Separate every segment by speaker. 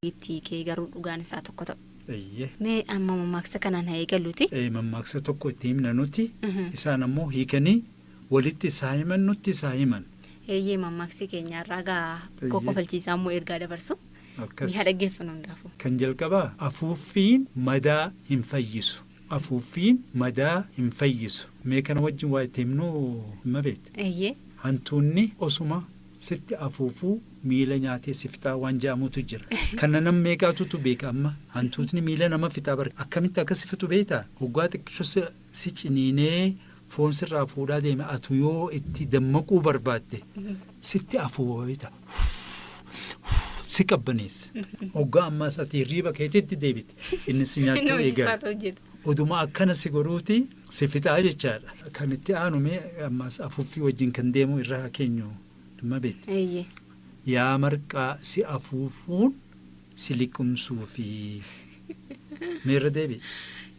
Speaker 1: Itti kee garuu dhugaan isaa tokko ta'u. Eeyyee. Mee amma
Speaker 2: mammaaksa
Speaker 1: kanaan haa eegaluuti. Eh, mammaaksa tokko itti
Speaker 2: himna nuti Mhm. isaan ammoo hiikanii walitti isaa himan nutti isaa himan Eeyyee mammaaksi
Speaker 1: keenya irraa gaa Eeyyee. kokkofalchiisaa immoo ergaa dabarsu. Ni akkas haa dhaggeeffannu hundaafuu. kan jalqabaa
Speaker 2: afuuffiin madaa hin fayyisu Afuuffiin madaa hin fayyisu. Mee kana wajjin waa itti himnuu Immabeet? Eeyyee. Hantuunni osuma sitti afuufuu miila nyaatee si fixaa waan ja'amutu jira. Kana nam meeqaatutu beeka amma? Hantuutni miila nama fixaa bar. Akkamitti akka si fixu beektaa? Hoggaa xiqqisho si ciniinee foon sirraa fuudhaa deeme atu yoo itti dammaquu barbaadde sitti afuufa si qabbaneessa. Hoggaa ammaas ati hirriiba keetitti deebite inni si nyaachuu eegala. Oduma akkana si godhuuti si fixaa jechaadha. Kan itti aanu mee ammaas afuuffii wajjin kan deemu irra haa keenyu Immabeet. Yaa marqaa si afuufuun si liqimsuufi. Mee irra deebi'i.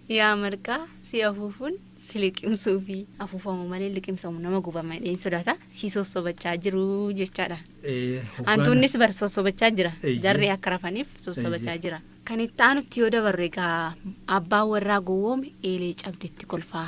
Speaker 2: Yaa marqaa
Speaker 1: si afuufuun si liqimsuufi. Afuufamu malee liqimsamu nama gubama jedheen sodaata. Si sossobachaa jiru jechaadha. Ee, hoggaana- Hantuunnis bar sossobachaa jira. Eeyyee. Jarri akka rafaniif sossobachaa Eeyyee. jira. Kan itti aanutti yoo dabarre egaa abbaan warraa gowwoome eelee cabdetti kolfaa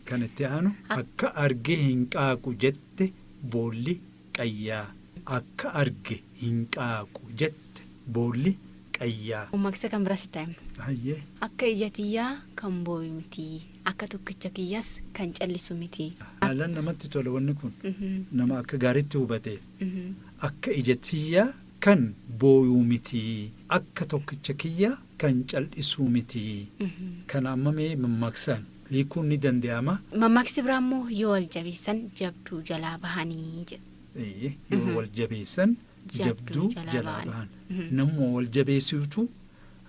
Speaker 1: Kan itti aanu akka arge hin qaaqu jette boolli qayyaa akka arge hin qaaqu jette boolli qayyaa. Mammaaksa kan biraa sitti haa himnu. Hayyee. Akka ija tiyyaa kan booyu miti akka tokkicha kiyyaas kan callisu miti. Haalaan namatti
Speaker 2: tola wanni kun nama akka gaariitti hubateef. Akka ija tiyyaa kan booyu miti akka tokkicha kiyyaa kan cal'isuu miti. Kana amma mee mammaaksaan. hiikuun ni dande'ama. Mammaksi biraa immoo
Speaker 1: yoo wal jabeessan jabduu jalaa bahani jedha. Eeyyee, yoo wal jabeessan
Speaker 2: jabduu jalaa bahan. Namuma wal jabeessuutu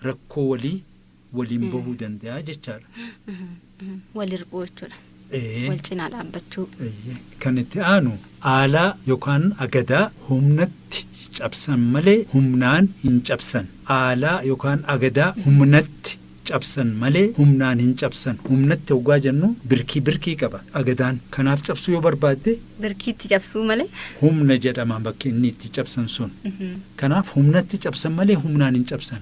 Speaker 2: rakkoo walii waliin bahuu danda'a jechaadha. Wal
Speaker 1: hir'uu jechuudha. Ee, Wal cinaa dhaabbachuu. eeyyee. Kan itti
Speaker 2: aanu aalaa yookaan agadaa humnatti cabsan malee humnaan hin cabsan. Aalaa yookaan agadaa humnatti cabsan malee humnaan hin cabsan humnatti hoggaa jennu birkii birkii qaba agadaan kanaaf cabsuu yoo barbaadde Birkiitti cabsuu
Speaker 1: malee. humna jedhama
Speaker 2: bakki inni itti cabsan sun kanaaf humnatti cabsan malee humnaan hin cabsan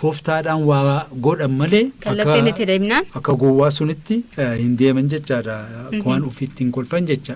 Speaker 2: tooftaadhaan waa godhan malee Kallattiin itti deemnaan.
Speaker 1: akka gowwaa sunitti
Speaker 2: eh, hin deeman jechaadha waan ofiitti hin kolfan jecha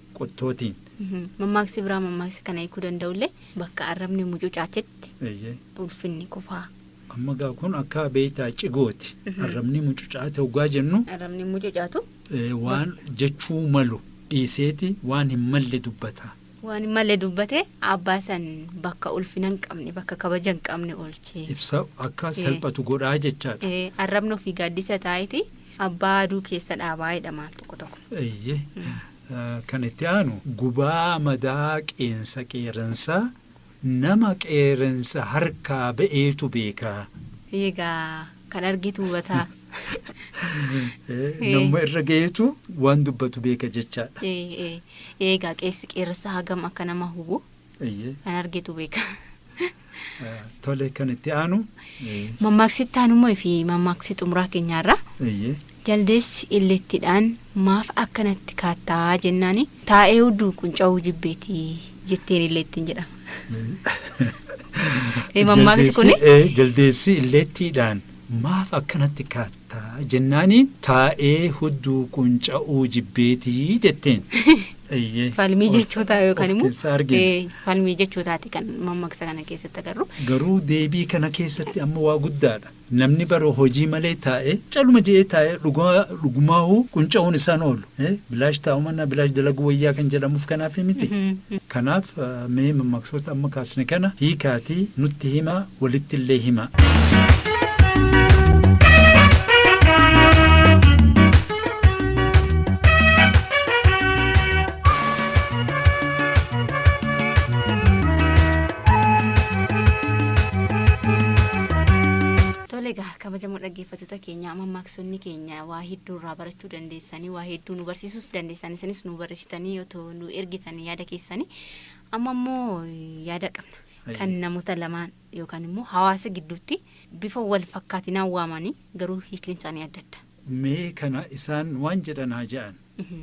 Speaker 2: qottootiin. Mammaaksi
Speaker 1: biraa mammaaksa kana hiikuu danda'ullee bakka arrabni mucucaatetti Eeyyee. ulfinni kufaa. Amma gaa kun
Speaker 2: akka beektaa cigooti. Arrabni mucucaate hoggaa jennu Arrabni mucucaatu
Speaker 1: eh, waan
Speaker 2: jechuu malu dhiiseeti waan hin malle dubbata. waan hin malle
Speaker 1: dubbate abbaa san bakka ulfina hin qabne bakka kabaja hin qabne oolchee. Ibsa akka
Speaker 2: salphatu godhaa jechaadha. Eh, Arrabni ofii
Speaker 1: gaaddisa taa'eeti Abbaa aduu keessa dhaabaa jedhama tokko tokko. Eeyyee.
Speaker 2: Kan itti aanu gubaa madaa qeensa qeerransa nama qeerransa harkaa ba'eetu beeka. Eeyyee gaa
Speaker 1: kan argitu hubataa.
Speaker 2: Namuma irra ga'eetu waan dubbatu beeka jechaadha.
Speaker 1: Eegaa qeessi qeerransa hagam akka nama hubu Eeyyee. Kan argetu beeka. Eh,
Speaker 2: Tole kan itti aanu. eh, Mammaaksi
Speaker 1: itti aanu immoo fi mammaaksi xumuraa keenyaarraa Eeyyee. jaldeessi illeettiidhaan maaf akkanatti kaattaa jennaani taa'ee udduu qunca'uu jibbeeti jetteen illeettiin jedhama. Eh, mammaaksi kuni? Jaldeessi- eh, Jaldeessi
Speaker 2: illeettiidhaan maaf akkanatti kaatta. ta jennaani taa'ee hudduu qunca'uu jibbeeti jetteen. Eeyyee.
Speaker 1: Falmii jechootaa yookaan Of immoo keessaa argina. ee, falmii jechootaati kan mammaksa kana keessatti agarru. Garuu deebii kana
Speaker 2: keessatti amma waa guddaadha. Namni bara hojii malee taa'ee caluma je'ee taa'ee dhugaa dhugumaahuu qunca'uun isaan oolu. Eh, bilaash taa'u mannaa bilaash dalaguu wayyaa kan jedhamuuf kanaafii miti. Kanaaf eh, mee mammaaksoota amma kaasne kana hiikaatii nutti himaa walitti illee himaa.
Speaker 1: Tole egaa kabajamoo dhaggeeffattoota keenya mammaaksonni keenya waa hedduu irraa barachuu dandeessanii waa hedduu nu barsiisuus dandeessanii sanis nu barreessitanii otoo nu ergitanii yaada keessanii amma immoo yaada qabna Hayyee. kan namoota lamaan yookaan immoo hawaasa gidduutti bifa wal fakkaatinaan waamanii garuu hiikni isaanii adda adda. mee kana
Speaker 2: isaan waan jedhan haa ja'an Mhm.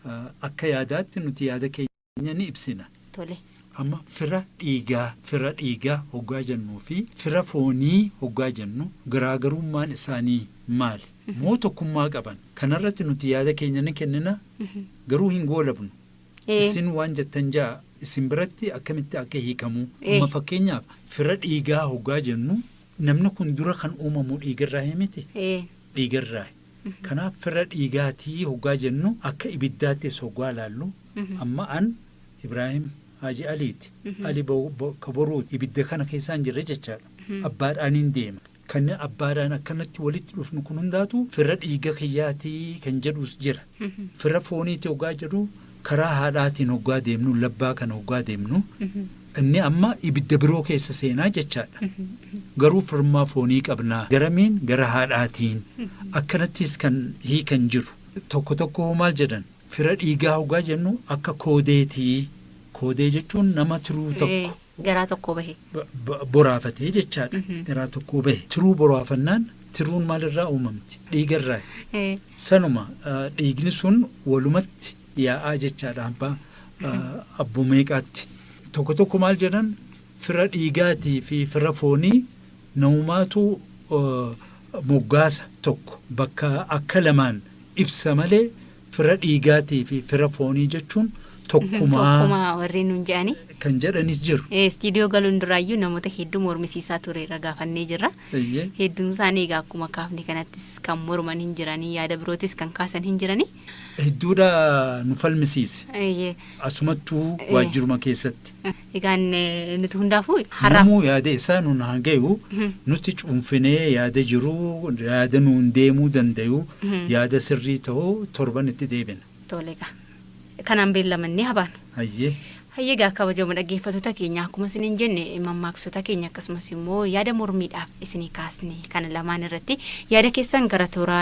Speaker 2: Ah, akka yaadaatti nuti yaada keenya keenya ni ibsina. tole. Amma
Speaker 1: fira
Speaker 2: dhiigaa, fira dhiigaa hoggaa jennuu fi fira foonii hoggaa jennu garaagarummaan isaanii maali? Moo tokkummaa qaban? Kanarratti nuti yaada keenya ni kennina garuu hin goolabnu. Ee. Isin waan jettan ja'a isin biratti akkamitti akka hiikamu. Ee. Amma fakkeenyaaf fira dhiigaa hoggaa jennu namni kun dura kan uumamu dhiigarraa himiti? Ee. Dhiigarraa. Kanaaf fira dhiigaatii hoggaa jennu akka ibiddaattis hoggaa laallu Amma an Ibraahim Haaji Aliiti. Ali bakka boruuti. Ibidda kana keessaan jirre jechaadha. Abbaadhaaniin deema. Kan abbaadhaan akkanatti walitti dhufnu kun hundaatu fira dhiiga kiyyaatii kan jedhuus jira. Fira fooniiti hoggaa jedhu karaa haadhaatiin hoggaa deemnu labbaa kana hoggaa deemnu inni amma ibidda biroo keessa seenaa jechaadha. Garuu firummaa foonii qabnaa. Garamiin gara haadhaatiin. Akkanattis kan hiikan jiru. Tokko tokko maal jedhan Fira dhiigaa hoggaa jennu akka koodeeti. Koodee jechuun nama tiruu tokko. Garaa tokkoo
Speaker 1: bahe. Boraafate
Speaker 2: jechaadha. Garaa tokkoo bahe. Tiruu boraafannaan tiruun maalirraa uumamti? Dhiigarraayi. Sanuma dhiigni sun walumatti yaa'aa jechaadha abbaa abboo meeqaatti. Tokko tokko maal jedhan Fira dhiigaatii fi fira foonii namumaatu moggaasa tokko bakka akka lamaan ibsa malee fira dhiigaatii fi fira foonii jechuun tokkumaa Tokkuma warri nuun jedhani.
Speaker 1: kan jedhanis jiru.
Speaker 2: Eh, Istiidiyoo galuun duraayyuu
Speaker 1: namoota hedduu mormisiisaa tureerra gaafannee jirra. Eeyyee. Hedduun isaanii egaa akkuma kaafne kanattis kan morman hin jiranii yaada birootis kan kaasan hin jiranii. Hedduudha
Speaker 2: nu falmisiise. Eeyyee. Asumattuu Eh. waajjiruma keessatti. Egaan
Speaker 1: nuti hundaafuu har'aaf. Namuu yaada isaa
Speaker 2: nun haa gayu nuti cuunfinee yaada jiru yaada nuun deemuu dandayu yaada sirrii ta'u torban itti deebina. Tole egaa
Speaker 1: kanaan beellamannee haa baanu. Hayyee. Hayyee
Speaker 2: egaa kabajamoo
Speaker 1: dhaggeeffattoota keenya akkuma isiniin jenne mammaaksota keenya akkasumas immoo yaada mormiidhaaf isinii kaasne kana lamaan irratti yaada keessan gara toora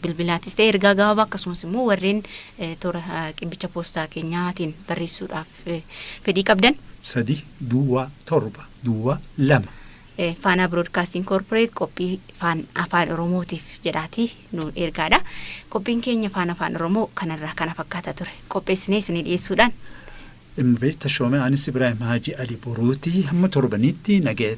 Speaker 1: bilbilaatis ta'e ergaa gabaabaa akkasumas immoo warreen toora qibbicha poostaa keenyaatiin barreessuudhaaf fedhii qabdan. 3 duwwaa 7
Speaker 2: duwwaa 2. Faanaa
Speaker 1: Biroodkaastiin Koorporeet qophii Faan Afaan Oromootiif jedhaatii nu ergaadha. Qophiin keenya Faan Afaan Oromoo kanarraa kana fakkaata ture. Qopheessinee isinii dhiyeessuudhaan. Imbeet
Speaker 2: Tashoomee Anis Ibraahim Haaji Ali Boruuti hamma torbaniitti nagaya.